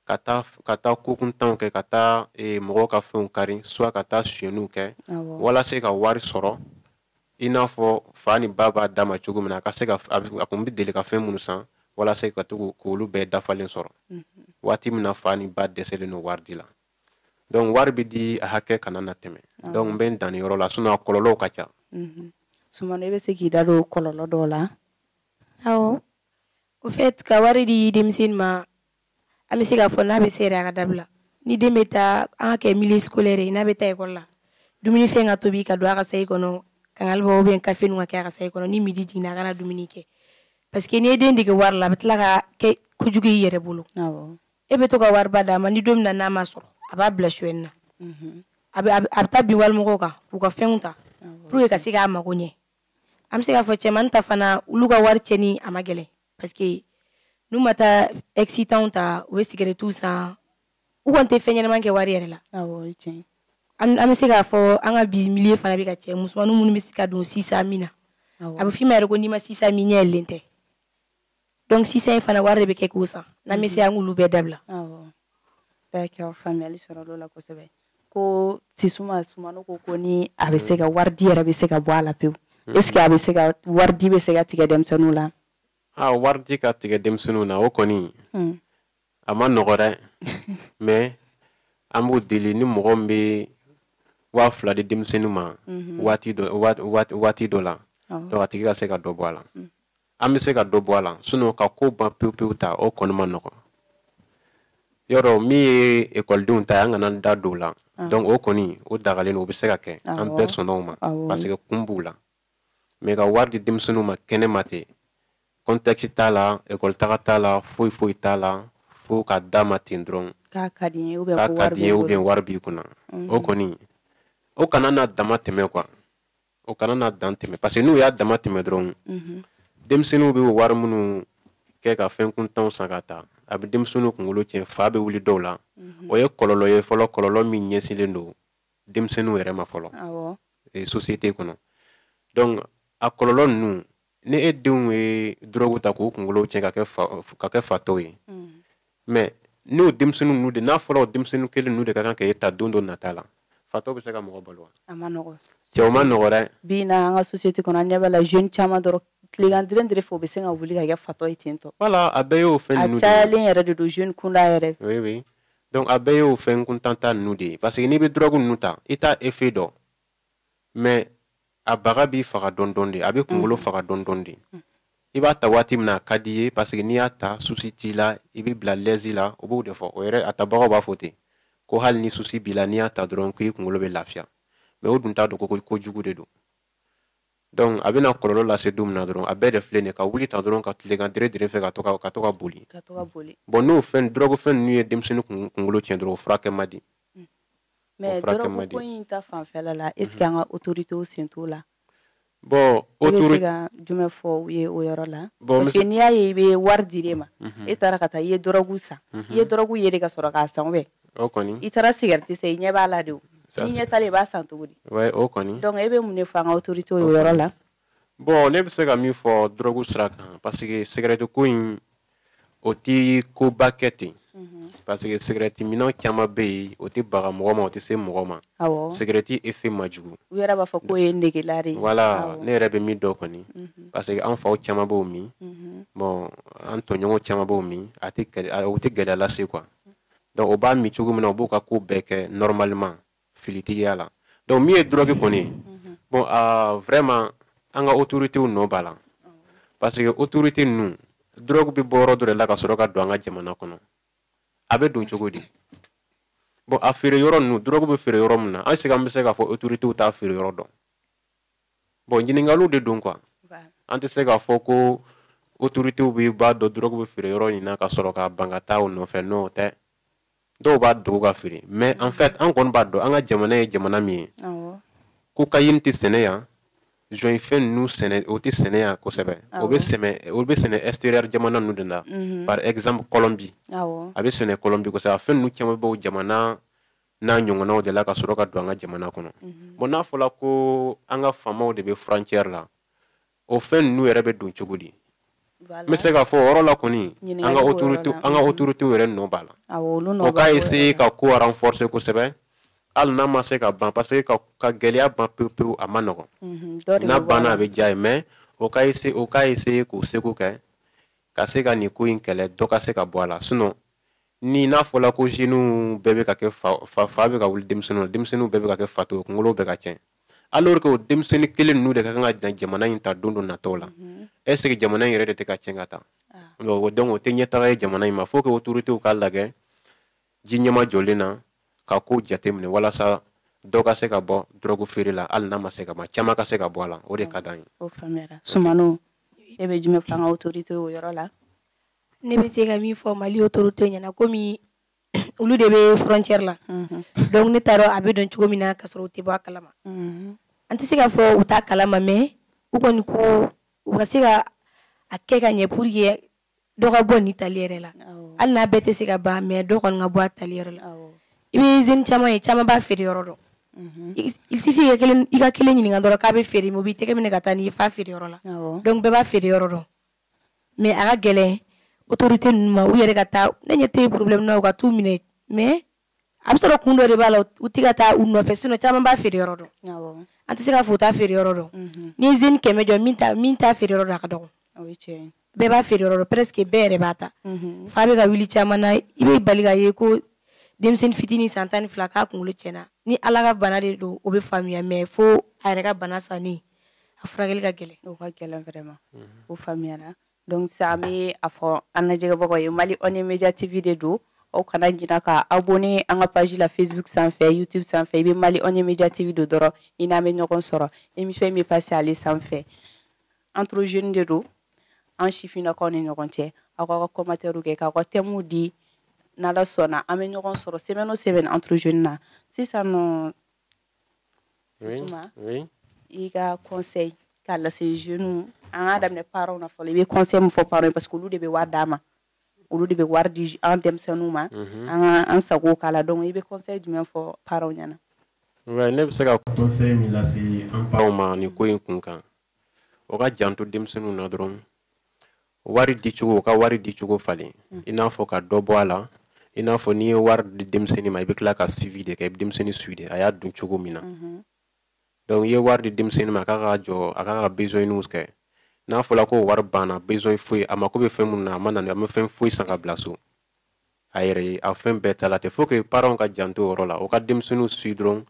ka taa ka taa ko kuntanw kɛ ka taa eh, mɔgɔw ka fɛnw kari soit ka taa suɲɛniw kɛ walasa ka wari sɔrɔ i n'a fɔ fa ni ba b'a d'a ma cogo min na a ka se ka a kun bɛ deli ka fɛn minnu san walasa ka to k'olu bɛɛ dafalen sɔrɔ mhm. waati min na fa ni ba dɛsɛlen don wari di la donc wari bɛ di a hakɛ kana na tɛmɛ ah. donc n bɛ n dan nin yɔrɔ la sinon a kɔlɔlɔw ka ca mhm. sumano i bɛ se k'i da don kɔlɔlɔ dɔw la awɔ au fait ka wari di denmisɛnnin ma an bɛ se k'a fɔ n'a bɛ se yɛrɛ a ka dabila ni den bɛ taa an ka kɛ milieu scolaire ye n'a bɛ taa ekɔli la dumuni fɛn ka tobi ka don a ka sayi kɔnɔ kangalibɔ ubiyɛn kafe nu ka kɛ a ka sayi kɔnɔ ni midi jiginna a ka na dumuni kɛ parce que n'i ye den dege wari la a bɛ tila ka kɛ kojugu i yɛrɛ bolo e bɛ to ka wariba d'a ma ni don min na n'a ma sɔrɔ a b'a bila sonyɛni na mhm. a bɛ taa bin walimɔgɔw kan k'u ka fɛnw ta pour qu'a ka se k'a mago ɲɛ an bɛ se k'a fɔ cɛmani ta fana olu ka wari cɛni a ma gɛlɛn parce que n'u ma taa excitanw ta u bɛ sigarɛtiw san u kɔni tɛ fɛn ɲɛnama kɛ wari yɛrɛ la an bɛ se k'a fɔ an ka bi milieu fana bɛ ka cɛn musomaninw minnu bɛ se ka don chicha min na a bɛ f'i ma yɛrɛ ko n'i ma chicha min ɲɛ yɛlɛlen tɛ donc chicha in fana wari de bɛ kɛ k'o san n'an bɛ se an k'olu bɛɛ dabila d'accord faamuyali sɔrɔla o la kosɛbɛ ko sisuma sumano ko ko ni a bɛ se ka waridi yɛrɛ bɛ se ka bɔ a la pewu mm-hmm. est-ce que a bɛ se ka waridi bɛ se ka tigɛ denmisɛnninw la a waridi ka tigɛ denmisɛnninw na o kɔni mm. a ma nɔgɔ dɛ mais an b'u deli ni mɔgɔ min bɛ waa fila di denmisɛnnin ma mm-hmm. waati dɔ la a tigi ka se ka dɔ bɔ a la mm. an bɛ se ka dɔ bɔ a la sinon ka ko ban pewu pewu ta o kɔni ma nɔgɔ yɔrɔ min ye ekɔlidenw ta ye an kana da don o la donc o kɔni o dagalen don o bɛ se ka kɛ an bɛɛ sɔnna o ma parce que kun b'o la mais ka wari di denmisɛnninw ma kɛnɛ ma ten kɔntɛkisi t'a la ekɔli taga t'a la foyi foyi t'a la fo ka d'a ma ten dɔrɔn k'a ka di n ye ubiyɛn wari b'i kun o kɔni o kana na dama tɛmɛ quoi o kana na dan tɛmɛ parce que n'u y'a dama tɛmɛ dɔrɔn mhm. denmisɛnninw bɛ wari minnu kɛ ka fɛn kuntanw san ka taa a bɛ denmisɛnninw kunkolo tiɲɛ fa bɛ wuli dɔw la mhm. o ye kɔlɔlɔ ye fɔlɔ kɔlɔlɔ min ɲɛsinlen don denmisɛnninw yɛrɛ ma fɔlɔ société kɔnɔ donc a kɔlɔlɔ ninnu ni e denw ye dɔrɔgu ta k'u kunkolo tiɲɛ ka kɛ fa ka kɛ fatɔw ye mm. mais n'o denmisɛnnin ninnu de n'a fɔra o denmisɛnnin kelen ninnu de ka kan ka e ta don dɔ nata la fatɔ bɛ se ka mɔgɔ balo wa a ma nɔgɔ cɛ a ma nɔgɔ dɛ bi na an ka société kɔnɔ an ɲɛ b'a la jeune caman dɔrɔn tilegan deren dere fɛ u bɛ se ka wuli ka kɛ fatɔ ye ten tɔ voilà a bɛɛ y'o fɛn ninnu a cayalen yɛrɛ de don jeune kunda yɛrɛ oui oui donc a bɛɛ y'o fɛn kuntanta ninnu de ye parce que n'i bɛ drogue ninnu ta i t'a effet dɔn mais a baga b'i faga dɔɔnin dɔɔnin de a bɛ kunkolo faga dɔɔnin dɔɔnin de i b'a ta waati min na a ka di i ye parce que n'i y'a ta souci t'i la i bɛ bila l'aise la o b'o de fɔ o yɛrɛ a tabagaw b'a fɔ ten ko hali ni souci b'i la n'i y'a ta dɔrɔn k'i kunkolo bɛ lafiya mais o dun t'a dɔn ko ko jugu de don donc a bɛna kɔlɔlɔ lase don min na dɔrɔn a bɛɛ de filɛ nin ka wuli ta dɔrɔn ka tilegan dere dere fɛ ka to ka ka to ka boli bon n'o fɛn dɔrɔgufɛn ninnu ye denmisɛnnin kunkolo tiɲɛ dɔrɔn o furakɛ man di mais dɔrɔgu ko in ta fanfɛla la est ce que an ka autorité sen t'o la i bɛ se ka jumɛn fɔ u ye o yɔrɔ la bon, parce que n'i y'a ye i bɛ wari di de ma mhm. e taara ka taa i ye dɔrɔgu san i mhm. ye dɔrɔgu ye de ka sɔrɔ k'a san bɛɛ o kɔni i taara sigariti san i ɲɛ b'a la de o n'i ɲɛ t'a la i b'a san cogo di o kɔni donc e bɛ mun de fɔ an ka autorité ye o yɔrɔ la bon ne bɛ se ka min fɔ dɔrɔgu sira kan parce que sigarɛti ko in o tɛ koba kɛ ten mhm. parce que sigarɛti minna caman bɛ yen o tɛ baga mɔgɔ ma o tɛ se mɔgɔ ma sigarɛti effet man jugu u yɛrɛ b'a fɔ k'o ye negela de ye wala ne yɛrɛ bɛ min dɔn kɔni mhm. parce que an faw caman b'o min mhm. bon an tɔɲɔgɔn caman b'o min a tɛ o tɛ gɛlɛya lase quoi donc o b'a min cogo min na u b'u ka ko bɛɛ kɛ normalement filitigiya la donc min ye drogue kɔni ye mhm. bon uh, vraiment an ka autoritéw nɔ b'a la parce que autorité ninnu drogue bɛ bɔ yɔrɔ dɔ de la ka sɔrɔ ka don an ka jamana kɔnɔ a bɛ don cogo di bon a feere yɔrɔ ninnu drogue bɛ feere yɔrɔ min na est ce que an bɛ se k'a fɔ autoritéw t'a feere yɔrɔ dɔn bon ɲininkaliw de don quoi an tɛ se k'a fɔ ko autoritéw bɛɛ b'a dɔn drogue bɛ feere yɔrɔ in na ka sɔrɔ ka ban ka taa o nɔfɛ n'o tɛ dɔw b'a dogo ka feere mais en fait an kɔni b'a dɔn an ka jamana ye jamana min ye cocaïne tɛ sɛnɛ yan jɔn fɛn ninnu sɛnɛ o tɛ sɛnɛ yan kosɛbɛ o bɛ sɛnɛ o bɛ sɛnɛ extérieur jamana ninnu de la mhm. par exemple Colombie a bɛ sɛnɛ Colombie kosɛbɛ a fɛn ninnu caman bɛ bɔ o jamana n'a ɲɔgɔnnaw de la ka sɔrɔ ka don an ka jamana kɔnɔ mhm. bon n'a fɔla ko an ka faamaw de bɛ frontière la o fɛn ninnu yɛrɛ bɛ don cogo di n bɛ se k'a fɔ o yɔrɔ la kɔni an ka autorité an ka autorité yɛrɛ nɔ b'a la o k'a essayer ka ko renforcer kosɛbɛ hali n'a ma se ka ban parce que ka ka gɛlɛya ban pewu pewu a man nɔgɔn mhm, n'a banna a bɛ diya an ye mais o ka essayer o k'a essayer k'o seko kɛ ka se ka nin ko in kɛlɛ dɔ ka se ka bɔ a la sinon ni n'a fɔla ko jeunes bɛɛ bɛ ka kɛ fa fa fa bɛ ka wuli denmisɛnninw na denmisɛnninw bɛɛ bɛ ka kɛ fato ye kunkolow bɛ ka cɛn alors que o denmisɛnnin kelen ninnu de ka kan ka jamana in ta don dɔ nataw la mhm. est ce que jamana in yɛrɛ de tɛ ka tiɲɛ ka taa ah. donc o tɛ ɲɛtaga ye jamana in ma faut que autorités k'a lajɛ ji ɲɛma jɔlen na ka ko jateminɛ walasa dɔ ka se ka bɔ dɔrɔgu feere la hali n'a ma se ka ban caman ka se ka bɔ a la o de ka d'an ye o faamuyara sumano e bɛ jumɛn fɔ an ka autorité o yɔrɔ la ne bɛ se ka min fɔ mali autorité ɲɛna komi olu de bɛ frontière la dɔnku ne t'a dɔn a bɛ don cogo min na ka sɔrɔ u tɛ bɔ a kalama an tɛ se k'a fɔ u t'a kalama mɛ u kɔni ko u ka se ka a kɛ ka ɲɛ pour que dɔ ka bɔ nin tali yɛrɛ la hali n'a bɛɛ tɛ se ka ban mɛ dɔ kɔni ka bɔ a tali yɛrɛ la i bɛ jeunes caman ye caman b'a feere yɔrɔ dɔn il suffit i ka kelen ɲininka dɔrɔn k'a bɛ feere o b'i tɛgɛ minɛ ka taa n'i y'a feere yɔrɔ la dɔnku bɛɛ b'a feere yɔrɔ dɔn mɛ a ka gɛlɛn otorite ninnu ma u yɛrɛ ka taa ne ɲɛ tɛ porobilɛmu na u ka t'u minɛ mɛ a bɛ sɔrɔ kun dɔ de b'a la u tɛ ka taa u nɔfɛ sinon caman b'a feere yɔrɔ dɔn an tɛ se k'a fɔ u t'a feere yɔrɔ dɔn mhm. ni zeni kɛmɛ jɔ min t'a feere yɔrɔ dɔn a ka dɔgɔn bɛɛ b'a feere yɔrɔ dɔn presque bɛɛ yɛrɛ b'a ta mhm. fa bɛ ka wuli caman na i bɛ bala k'a ye ko denmisɛnnin fitinin san tan ni fila k'a kunkolo tiɲɛna ni ala ka bana de don o bɛ faamuya mɛ fo a yɛrɛ ka bana sanni a furakɛli ka gɛlɛn o ka gɛlɛn vraiment mhm. o faamuyara donc sa an bɛ a fɔ an lajɛbagaw ye mali on est media tv de don aw kana ɲina ka abonné an ka page la facebook sanfɛ youtube sanfɛ i bɛ mali on est media tv don dɔrɔn i n'an bɛ ɲɔgɔn sɔrɔ émission in bɛ passer ale sanfɛ entre jeunes de don an sifinnakaw ni ɲɔgɔn cɛ aw k'aw ka commentaires kɛ k'aw ka thèmes di n'ala sɔnna an bɛ ɲɔgɔn sɔrɔ semaine o semaine entre jeunes na sisan nɔ oui oui i ka conseil k'a lase jeunes an k'a daminɛ parents na fɔlɔ i bɛ conseil mun fɔ parents parce que olu de bɛ wari d'an ma olu de bɛ wari di an denmisɛnninw ma mhm. an ka an sago k'a la donc i bɛ conseil jumɛn fɔ parents ɲɛna nka ne bɛ se ka conseil min lase an parents ma nin ko in kun kan u ka janto denmisɛnninw na dɔrɔn wari dicogo u ka wari dicogo falen mm. i n'a fɔ ka dɔ bɔ a la i n'a fɔ n'i ye wari di denmisɛnnin ma i bɛ tila k'a suivi de kɛ i bɛ denmisɛnnin suivi de a y'a dun cogo min na mm-hmm. donc i ye wari di denmisɛnnin ma a k'a ka jɔ a k'a ka besoinniw kɛ n'a fɔla ko wari banna besoin foyi a mako bɛ fɛn minnu na a ma na a ma fɛn foyi san ka bila so a yɛrɛ ye a fɛn bɛɛ tala tɛ faut que parents ka janto o yɔrɔ la u ka denmisɛnninw suivi dɔrɔn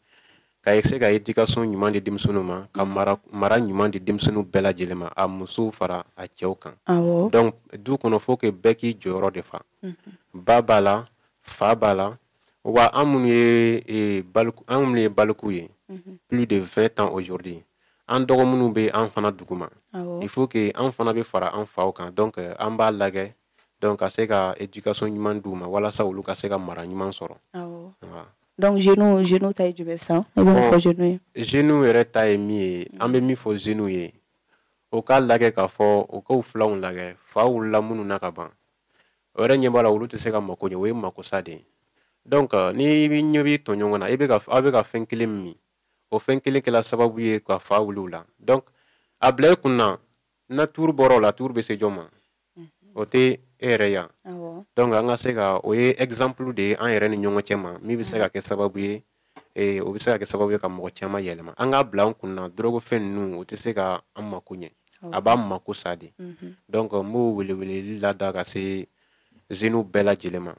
ka se ka éducation ɲuman di denmisɛnninw ma ka mara mara ɲuman di denmisɛnninw bɛɛ lajɛlen ma a musow fara a cɛw kan donc du kɔnɔ faut que bɛɛ k'i jɔyɔrɔ de fa mhm. ba b'a la fa b'a la wa an minnu ye e, baliku an minnu ye baliku ye mhm. plus de 20 ans aujourd'hui an dɔgɔ minnu bɛ an fana duguma il faut que an fana bɛ fara an faw kan donc an b'a lagɛ donc ka se ka éducation ɲuman d'u ma walasa olu ka se ka mara ɲuman sɔrɔ donc jeunes jeunes ta ye jumɛn sisan e bɛ mun fɔ jeunes ye jeunes yɛrɛ ta ye min ye an bɛ min fɔ jeunes ye u k'a lajɛ k'a fɔ u k'u filanw lajɛ fa wulila minnu na ka ban u yɛrɛ ɲɛ b'a la olu tɛ se ka mako ɲɛ o ye makosa de ye donc n'i ɲɛ b'i tɔɲɔgɔn na i bɛ ka aw bɛ ka fɛn kelen min o fɛn kelen kɛla sababu ye ka fa wuli o la donc a bila i kun na n'a tuuru bɔra o la tuuru bɛ se jɔn ma o tɛ e yɛrɛ yan donc an ka se ka o ye exemple de ye an yɛrɛ ni ɲɔgɔn cɛ ma min bɛ se ka kɛ sababu ye ee o bɛ se ka kɛ sababu ye ka mɔgɔ caman yɛlɛma an k'a bila an kun na dɔrɔgufɛn ninnu o tɛ se ka an mako ɲɛ a b'an mako sa de donc n b'o weleweleli lada ka se zeniw bɛɛ lajɛlen ma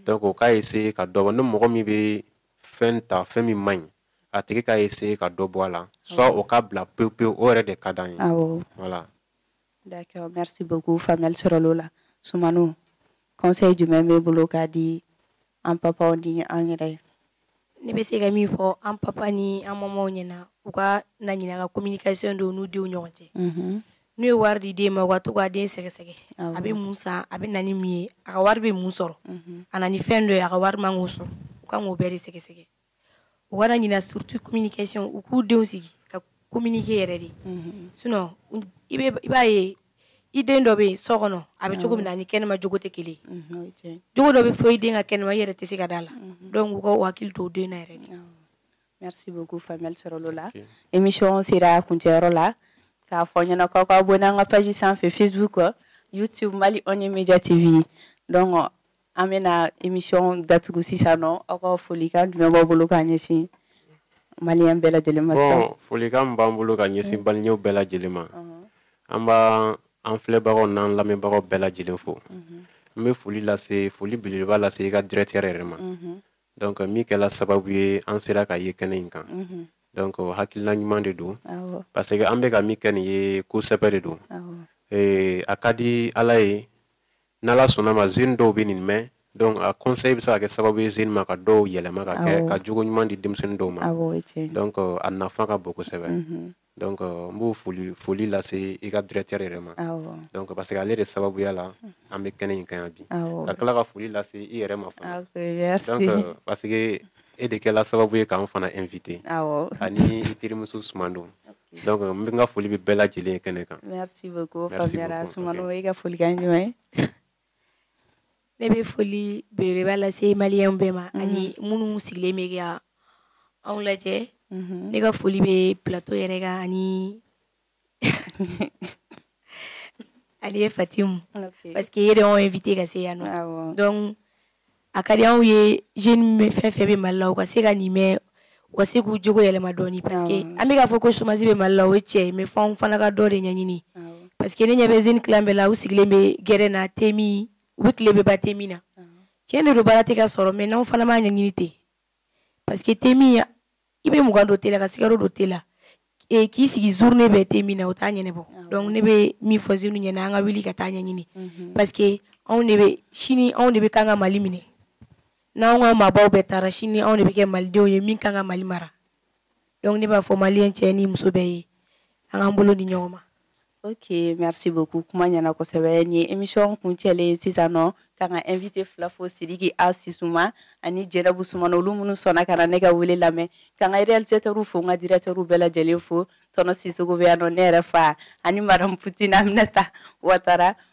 donc u k'a essayer ka dɔ bɔ ni mɔgɔ min bɛ fɛn ta fɛn min man ɲi a tigi k'a essayer ka dɔ bɔ a la soit o k'a bila pewu pewu o yɛrɛ de ka d'an ye voilà D'accord, merci beaucoup faamuyali sɔrɔl'o la. Soumano, conseil jumɛn b'e bolo ka di an papa ni an yɛrɛ. Ne bɛ se ka min fɔ an papa ni an mamaw ɲɛna u kana ɲinɛ ka communication don n'u denw ɲɔgɔn cɛ. Mhm. N'u ye wari di den ma u ka to ka den sɛgɛsɛgɛ. Awɔ. A bɛ mun san a bɛ na ni mun ye a ka wari bɛ mun sɔrɔ. Mhm. A na ni fɛn dɔ ye a ka wari man k'o sɔrɔ u kan k'o bɛɛ de sɛgɛsɛgɛ. u kana ɲina surtout communication u k'u denw sigi ka communiquer yɛrɛ de mhm. sinon i b'a ye i den dɔ bɛ yen so kɔnɔ a bɛ cogo min na ni kɛnɛma jogo tɛ kelen ye jogo dɔ bɛ fɔ i den kan kɛnɛma i yɛrɛ tɛ se ka d'a la mhm. donc u ka u hakili to u den na yɛrɛ de merci beaucoup faamuyali sɔrɔl'o la émission sera kuncɛyɔrɔ la k'a fɔ ɲɛna k'aw ka abonné an ka page sanfɛ facebook youtube mali on media tv donc an bɛna émission datugu sisan nɔ aw ka folikan jumɛn b'aw bolo k'a ɲɛsin maliyɛn bɛɛ lajɛlen ma sisan bon folikan min b'an bolo ka ɲɛsin maliyɛnw bɛɛ lajɛlen ma an b'an filɛbagaw n'an lamɛnbagaw bɛɛ lajɛlen fo n bɛ foli lase foli belebeleba lase i ka directeur yɛrɛ ma donc min kɛla sababu ye an sera ka ye kɛnɛ in kan donc hakilina ɲuman de don parce que an bɛ ka min kɛ nin ye ko sɛbɛ de don a ka di ala ye n'ala sɔnna ma zeni dɔw bɛ nin mɛn donc a conseil bɛ se ka kɛ sababu ye zeni ma ka dɔw yɛlɛma ka kɛ ka jogo ɲuman di denmisɛnnin dɔw ma donc a nafa ka bon kosɛbɛ mhm. donc n bɛ foli foli lase i ka directeur yɛrɛ ma donc parce que ale de sababuya la an bɛ kɛnɛ in kan yan bi ka tila ka foli lase i yɛrɛ ma fana donc parce que e de kɛla sababu ye k'an fana invité ani i terimuso sumano donc n bɛ n ka foli bɛ bɛɛ lajɛlen kɛnɛ kan. merci beaucoup faamuyara sumano i ka folikan jumɛn ye. ne bɛ foli belebeleba lase maliyɛnw bɛɛ ma ani minnu sigilen bɛ ka anw lajɛ ne ka foli bɛ plateau yɛrɛ kan ani e fatimu parce que e de y'anw invité ka se yan nɔ donc a ka di anw ye jeune fɛn fɛn bɛ mali la u ka se ka nin mɛn u ka se k'u jogo yɛlɛma dɔɔni parce que an bɛ k'a fɔ ko chômage bɛ mali la o ye tiɲɛ ye mais f'anw fana ka dɔ de ɲɛɲini parce que ne ɲɛ bɛ jeune tilan bɛɛ la u sigilen bɛ gɛrɛn na temin u bɛ tile bɛɛ ban temin na tiɲɛ de don baara tɛ ka sɔrɔ mais n'anw fana m'a ɲɛɲini ten parce que te min ya i bɛ mugan don te la ka sukaro don te la e, k'i sigi journée bɛɛ te min na o t'a ɲɛnabɔ ah donc ne bɛ min fɔ jeunew ɲɛna an ka wuli ka taaɲɛ ɲini mhm. parce que anw de bɛ sini anw de bɛ kan ka mali minɛ n'anw ka maabaw bɛɛ taara sini anw de bɛ kɛ malidenw ye min kan ka mali mara donc ne b'a fɔ maliyɛn cɛ ni muso bɛɛ ye an k'an bolo di ɲɔgɔn ma ok merci beaucoup kuma ɲɛna kosɛbɛ ni émission kuncɛlen sisan nɔ k'an ka invité fila fo sidiki a sisuma ani jɛnɛbu sumano olu minnu sɔnna ka na ne ka wele lamɛn ka ka réalisatɛrw fo n ka directeurw bɛɛ lajɛlen fo tɔnɔ sisɔkɔ bɛ yan nɔ ne yɛrɛ fa ani madame poutine aminata watara